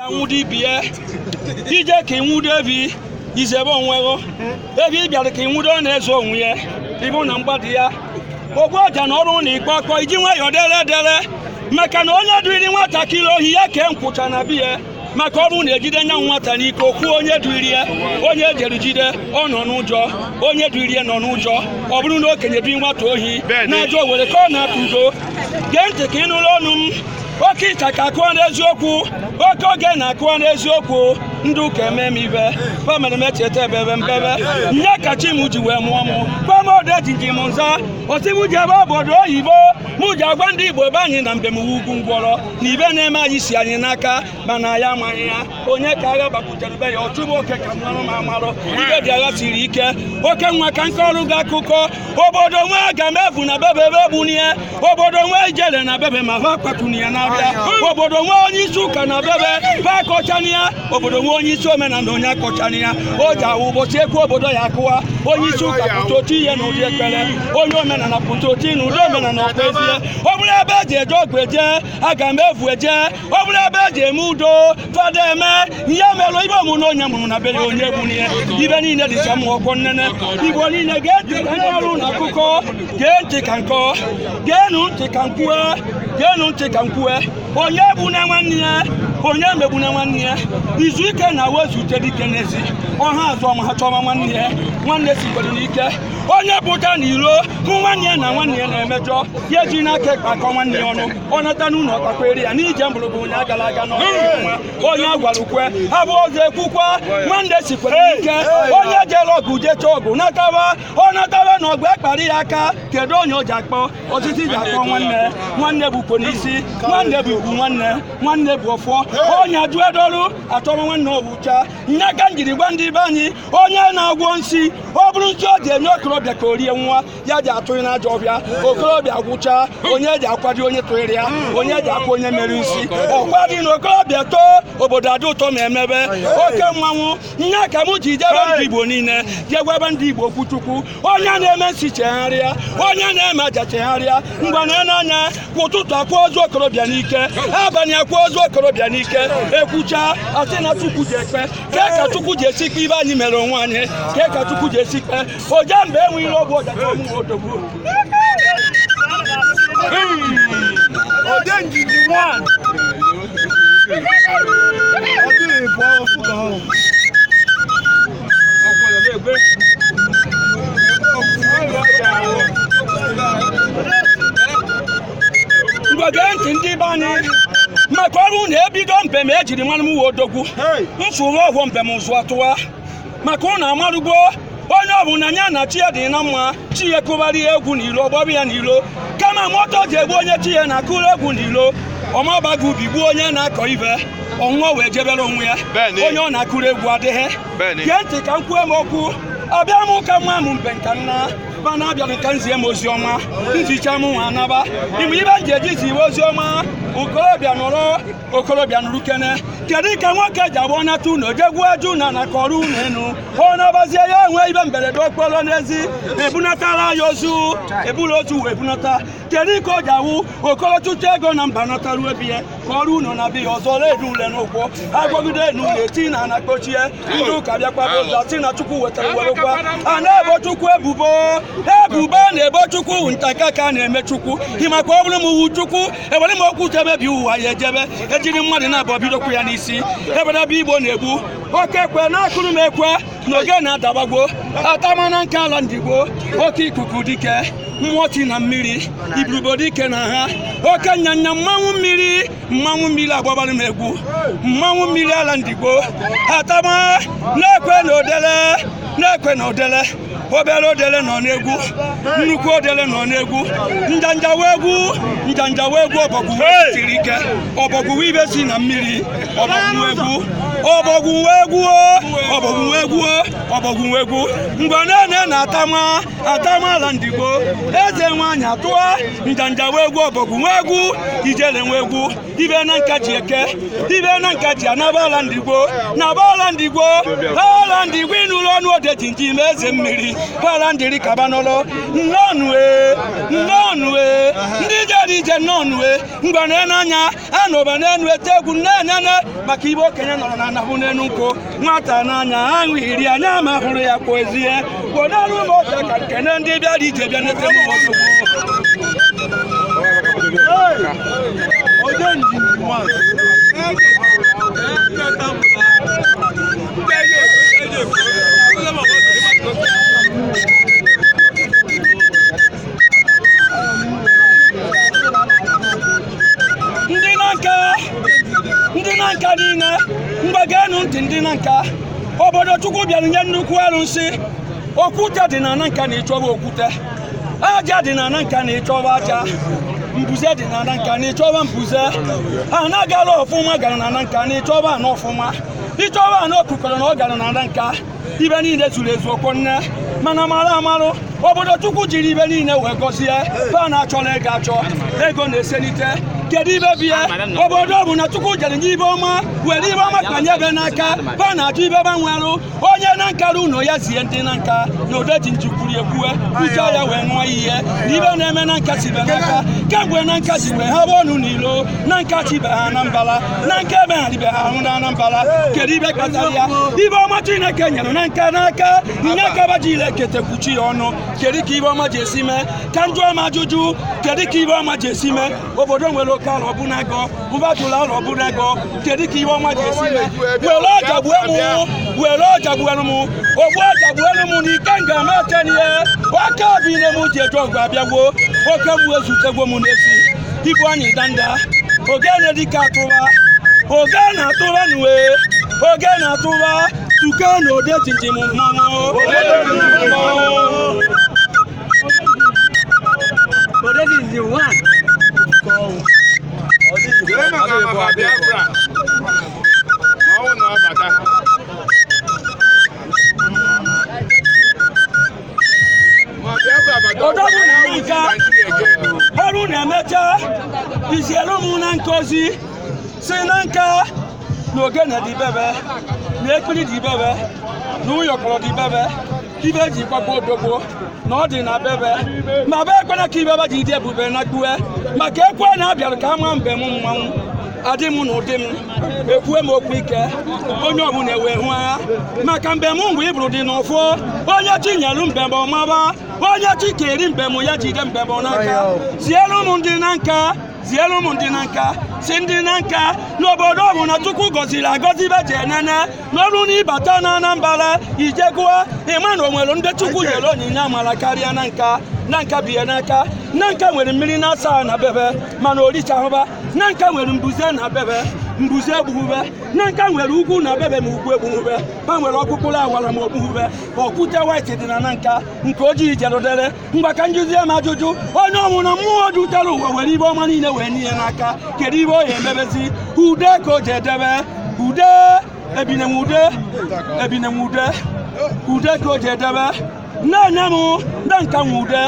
anwụdo ibi ya ije ka ịnwụdo ebi izebe onwe gị ebi ị bịara ka ịnwụdo ọ na-eze onwe ya ịbụ na mgbada ya ogbu ọja na ọrụ na ikpe ọkọ iji nwayọọ dere dere maka na onye duiri nwatakịrị ohi ya ka nkwụcha na biya maka ọ bụrụ na ejide nya nwata n'ike o kwuo onye duiri ya onye ejere jide ọ nọ n'ụjọ onye duiri ya nọ n'ụjọ ọ bụrụ na okenye dui nwata ohi na-ajọ were ka ọ na-akụ ụzọ gee ntị ka ị nụrụ ọnụ m oke ịchaka akụwa n'eziokwu oke ogene akụwa n'eziokwu ndị ụka eme m ife pa mere m echeta ebebe mbebe nya ka chi m ji wee mụọ m gwa m odejimjim nza o sị m jebe obodo oyibo m ji agwa ndị igbo be anyị na mbem ugwu ngwọrọ na ife na-eme anyị si anyị n'aka mana anyị amaghị ya onye ka agha gbakwutere be ya ọchụ nwoke ka mmanụ ma amarụ ife dị agha siri ike oke nwa ka nke ọrụ gị akụkọ obodo nwe aga m evu na bebe ha ebunie obodo nwe ijele na bebe ma ha kpatuni ya n'abịa obodo nwe onye isi ụka na bebe ha akọchana ya obodo nwe onye isi omenala onye akọchana ya o ji awụ ụbọchị ekwu obodo ya akụwa onye isi ụka pụta o tiye na ụdị ekpere onye omenala pụta otu na ụdị omenala ọkpezie ọ bụrụ ebe eji eje ọgụ eje aga m evu eje ọ bụrụ ebe e ji eme udo fada eme ihe merụ ife ọmụ na onye mụrụ na be ya onye gburu ya ife niile dịcha mma ọkwọ nnene igbo niile ga-eti ka ndị ọrụ na akụkọ gee ntị ka nkọ geenụ ntị ka nkwue geenụ ntị ka nkwue onye egbuna nwanne ya onye emegbuna nwanne ya izu ike na wezute dike n'ezi ọha azụ ọma ha chọma nwanne ya nwanne sikwere n'ike onye pụta n'iro hụ nwanne ya na nwanne ya na-emejọ ya ejina aka ekpe akọ nwanne ya ọnụ ọ nata n'ụlọ ọkpakwere ya n'ije mgbụrụgwụ onye agala aga n'ọnwa onye agwara o kwe ha bụ ọzọ ekwukwa nwanne sikwere ike onye jere ọgụ jecha ọgụ natawa ọ natawa na ọgụ ekpara ya aka kedu onye o ji akpọ osisi ji akpọ nwanne nwanne bụkwo n'isi nwanne bụ ugwu nwanne nwanne bụ ọfọ onye ajụ edoru atọrọ nwanne ọwụcha nya ka m jiri gwa ndị be anyị onye na-agwọ nsi ọ bụrụ nsi o ji enye okorobịa ka o rie nwụọ ya ji atụ ya na ajọ ọfịa okorobịa gwụchaa onye ji akwado onye tụnyere ya onye ji akwa onye mere nsi ọkwa dị na okorobịa too obodo adị ụtọ ma emebe oke mmanwụ nya ka m ji jebe ndị igbo niile je gwabe ndị igbo okwu chukwu onye na-eme nsi chegharịa onye na-eme aja chegharịa ngwa na n'anya kwa ụtụtụ akwa ozu okorobịa n'ike abalị akwa ozu okorobịa n'ike ekwucha asị na chukwu ji ekpe kee ka chukwu ji esi kpe ife anyị mere onwe anyị kee ka chukwu ji esi kpe oje mgbe enwe ihe ọgwụ ọja chọọ mụ odogwu odejimjim ngwa gee ntị ndị be anyị maka ọrụ na-ebido mbem ejiri marụ m wee odogwu mfụrụ ọhụụ mbem ụzụ atụwa maka unu amarugo onye ọbụla nya na chi ya dị na mma chi ya kụbara ya egwu n'ilo ọ gbaba ya n'ilo kama moto ji egbu onye chi ya na-akụrụ egwu n'ilo ọ mabago ubi gbuo onye na-akọ ive ọ nwụọ wee jebere onwe ya onye ọ na-akụrụ egwu adịghị gee ntị ka m kwuo m okwu abịa m ụka nwa m mbe nka nna mana abịara m ka m zie m ozi ọma m zicha mụ nwa anaba ị ma ive m ji eji ziwe ozi ọma okorobịa nụrụ okorobịa nụrụ kene kedu ka nwoke ji awụ ọ nata ụnọ jee gwuo aja ụnọ na ka ọ rụọ ụnọ enu ọ nabazie ya enwe ive mberede okporo n'ezi ebunatara ya ozu eburu ozu wee bunata kedu ka o ji awụ okoro chụcha ego na mba nataruo be ya ka ọ rụọ ụnọ na be ya ọzọ redu ule n'ụkwụ agwọgide enu ule ti n'ana kpochie ndị ụka bịakwaba ọzọ sị na chukwu wetara werekwa a na-ebo chukwu ebubo ebubo na-ebo chukwu ntakaka na-eme chukwu ị makwa ọ bụrụ m wu chukwu ewere m ọkụ tie mebie ụwa ya ejebe ejiri mmadụ naabọ bidokwu ya n'isi ebenebe igbo na-egbu oke ekwe na-akụrụ m ekwe na ogene adabago atama na nka ala ndigbo oke ikuku dike mmụọ si na mmiri iburubo dike na ha oke nyanya mmanwụ mmiri mmanwụ mmiri agbabara m egwu mmanwụ mmiri ala ndigbo atama na-ekwe na odele na-ekwe na odele obere odele nọ n'egwu nnukwu odele nọ n'egwu njanja nwe egwu njanja nwe egwu ọbọgwụ wee siri ike ọbọgwụ wụ ive si na mmiri ọbọgwụ nwe egwu ọbọgwụ nwe egwu ọbọgwụ nwe egwu ọbọgwụ nwe egwu ngwa na-ene na atama atama ala ndigbo eze nwaanyị atụa njanja nwe egwu ọbọgwụ nwe egwu ijele nwe egwu ive na nka ji eke ive na nka ji anaba ala ndigbo naba ala ndigbo ala ndigbo ị nụrụ onu odejimjim eze mmiri ala ndiri kaba n'ụlọ nnọọnụ e nnọọnụ e ndị jere ije nnọọnụ e ngwa na-ene anya anọba n'enu ete egwu na-enene maka ive okenye nọrọ n'ana hụ n'enu nkwụ nwata n'anya aṅụ iri anya ma hụrụ ya kpozie kpọnarụ m ọcha ka m kene ndị bịara ije bịa nete m ozugbo onye njinji nwanyị ndị Nanka ndị Nanka niile ngwa geenụ ntị ndị Nanka obodo chukwu bịara nye nnukwu arụsị okwute dị na Nanka na ịchọba okwute aja dị na Nanka na ịchọba aja mbuze dị na Nanka na ịchọba mbuze ana gara ọfụma gara na Nanka na ịchọba ana ọfụma ịchọba ana okukọrọ na ọ gara na Nanka ibe niile zuru ezu okwu nne mana mara amarụ obodo chukwu jiri ibe niile wee gọzie fa na achọla ego achọ ego na-eselite kedu ibe bie obodo ọbụna chukwu jere nye ibe ọma were ibe ọma kpanye be n'aka fa na achọ ibe gbanwerụ onye Nanka ruo ụlọ ya zie ndị Nanka na Odejimjim kwuru ekwue uche ya wee ṅụọ iyi na ibe na-eme Nanka si be n'aka kemgbe Nanka si wee ha bụ ọnụ n'ilo Nanka si ibe ha na mbala Nanka emegharịbe ahụ na Anambra kedu ibe kpatara ya ibe ọma Chineke nyere Nanka n'aka nye ka ba ji ile ketekwuchi ya ọnụ kedu ka ibe ọma ji esi mee ka njụ ọma ajụjụ kedu ka ibe ọma ji esi mee obodo nwere oke ala ọbụla ego mbatụla ala ọbụla ego kedu ka ibe ọma ji esi mee were ọja gbuo m were ọja gbuelu m ogbu ọja gbuelu m na ike nga ma tenie oke obi ne m ji eje ọgụ abịagwo oke mmụọ ezutegwo m n'ezi igwe anyị ndanda ogene dịka atụba oge na-atụba n'uwe oge na-atụba tuke na ode jinjim mmanwụ Jee maka maka Biafra. Ma ọ bụ na ọ bata. odogwu Nanka ọrụ na-emecha izielu m Nanka ozi sị Nanka na ogene dị bebe na ekpiri dị bebe na ụyọkọrọ dị bebe ibe ji gbagbo odogbo na ọ dị na bebe ma be ekwena ka ibe be ji dị ebube nakpue maka ekwe na abịara ka ama mbem mmanwụ adị m na ụdị m ekwue m okwu ike onye ọbụla ewe hụ agha maka mbem ngwa iburu dị n'ụfụ onye chi nyelu mbem ọ maba onye chi keli mbem ya jide mbem n'aka zielu m ndị Nanka zielu m ndị Nanka sị ndị Nanka n'obodo ọbụla chukwu gọziri agọzi be jee nene marụ n'ịbata na anambra ijegụa ịma na o nwerọ ndị chukwu nyere onyinye amara karịa Nanka Nanka bie n'aka Nanka nwere mmiri na-asa na bebe mana o richahụ ba Nanka nwere mbuze na bebe mbuze egbuhụ be Nanka nwere ugwu na bebe ma ugwu egbuhụ be ba nwere ọkpụkpụrụ awara ma o gbuhụ be okwute white dị na Nanka nke ojii jere dịrị ngwa ka njụzie m ajụjụ onye ọbụna mmụọ dutere ụwa were ibe ọma niile wee nye ya n'aka kedu ibe ọ ya emebezi ude ka o ji edebe ude ebinenwude ebinenwude ude ka o ji edebe na-enye m Nanka nwe ude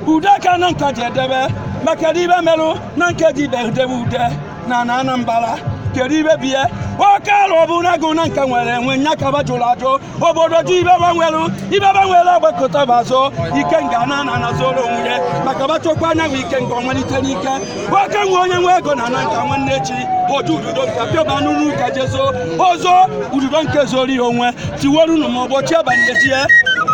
ude ka Nanka ji edebe ma kedu ibe merụ Nanka ji ibe edebe ude na na anambara kedu ibe bie oke alụ ọ bụ n'agụ Nanka nwere enwe nya ka ba jụrụ ajụ obodo jụ ibe ba nwere ibe ba nwere agbakụta ba azụ ikenga na na na zoro onwe ya maka ba chọkwa anyanwụ ikenga ọ malite n'ike oke nwe onye nwe ego na Nanka nwanne echi ọ jụ Ududonka pịọba n'ụlọ ụka je zoo o zoo Ududonka zoro ihe onwe tiwerunu ma ụbọchị abalị ejie